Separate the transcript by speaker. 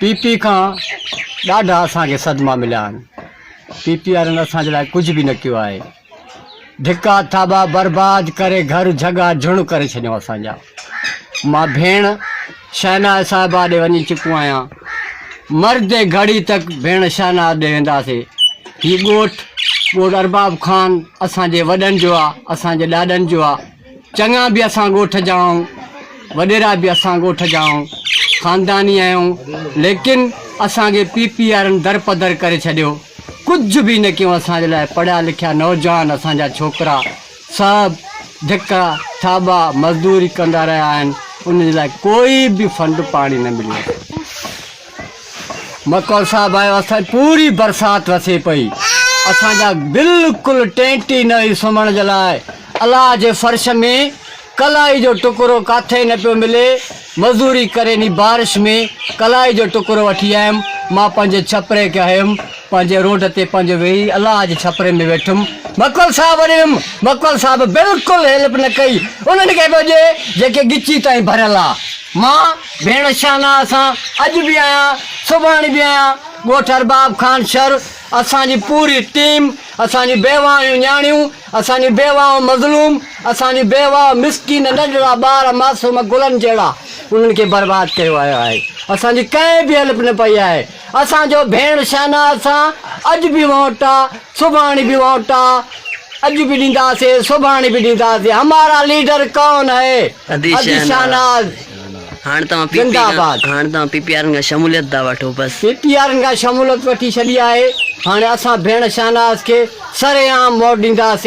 Speaker 1: P P کان ڏاڍا اسان کي صدما مليا آهن پي پي وارن اسان جي لاء ڪجهه به نه ڪيو آهي ڌڪا ٿاٻا برباد ڪري گهر جھڳا جھڻ ڪري ڇڏيو اسان جا مان ڀيڻ شهنا صاحبا ڏي وڃي چڪو آهيان مرد گھڙي تڪ ڀيڻ شهنا ڏي وينداسي هي ڳوٺ ڳوٺ ارباب خان اسان جي وڏن جو آهي اسان جي ڏاڏن جو آهي چڱا به اسان ڳوٺ جا آهيون، وڏيرا به اسان ڳوٺ جا آهيون، خانداني آهيون، ليڪن اسان کي پي پي وارن درپدر ڪري ڇڏيو، ڪجهه به نه ڪيو اسان جي لاء، پڙهيا لکيا نوجوان اسان جا ڇوڪرا سڀ ڌڪا ٿاٻا مزدوري ڪندا رهيا آهن، انهن جي لاء ڪوئي به فنڊ پاڻي نه مليو. مڪول صاحب آيو اسان جي پوري برسات وسي پئي اسان جا بلڪل ٽينٽي نه هئي سمهڻ جي لاء الله جي فرش ۾ ڪلائي جو ٽڪرو ڪاٿي نه پيو ملي مزوري ڪري ني بارش ۾ ڪلائي جو ٽڪرو وٺي آيم مان پنهنجي ڇپري کي هيم پنهنجي روڊ تي پنهنجو ويهي الله جي ڇپري ۾ ويٺم مڪول صاحب وٽ ويم مڪول صاحب بلڪل هيلپ نه ڪئي انهن کي پيو ڏي جيڪي ڳچي تائين ڀريل آ مان ڀيڻ شاهنه اسان اڄ به آهيان سڀاڻي به آهيان ڳوٺ ارباب خان شھر اسان جي پوري ٽيم اسان جون بيواهيون نياڻيون اسان جون بيواهون مظلوم اسان جون بيواهه مسڪين ننڍڙا ٻار معصوم گلن جهڙا انهن کي برباد ڪيو ويو آهي اسان جي ڪنهن به هيلپ نه پئي آهي اسان جو ڀيڻ شاهنه اسان اڄ به وونٽا سڀاڻي به وونٽا اڄ به ڏينداسي سڀاڻي به ڏينداسي همارا ليڊر ڪون هي ادي شاهناز
Speaker 2: زنده آباد. هاڻ توهان پي پي آرن کان شموليت ٿا وٺو بس. پي پي آرن کان شمولت
Speaker 1: وٺي ڇڏي آهي هاڻي اسان ڀيڻ شاهناز کي سرعام ووٽ ڏينداسي.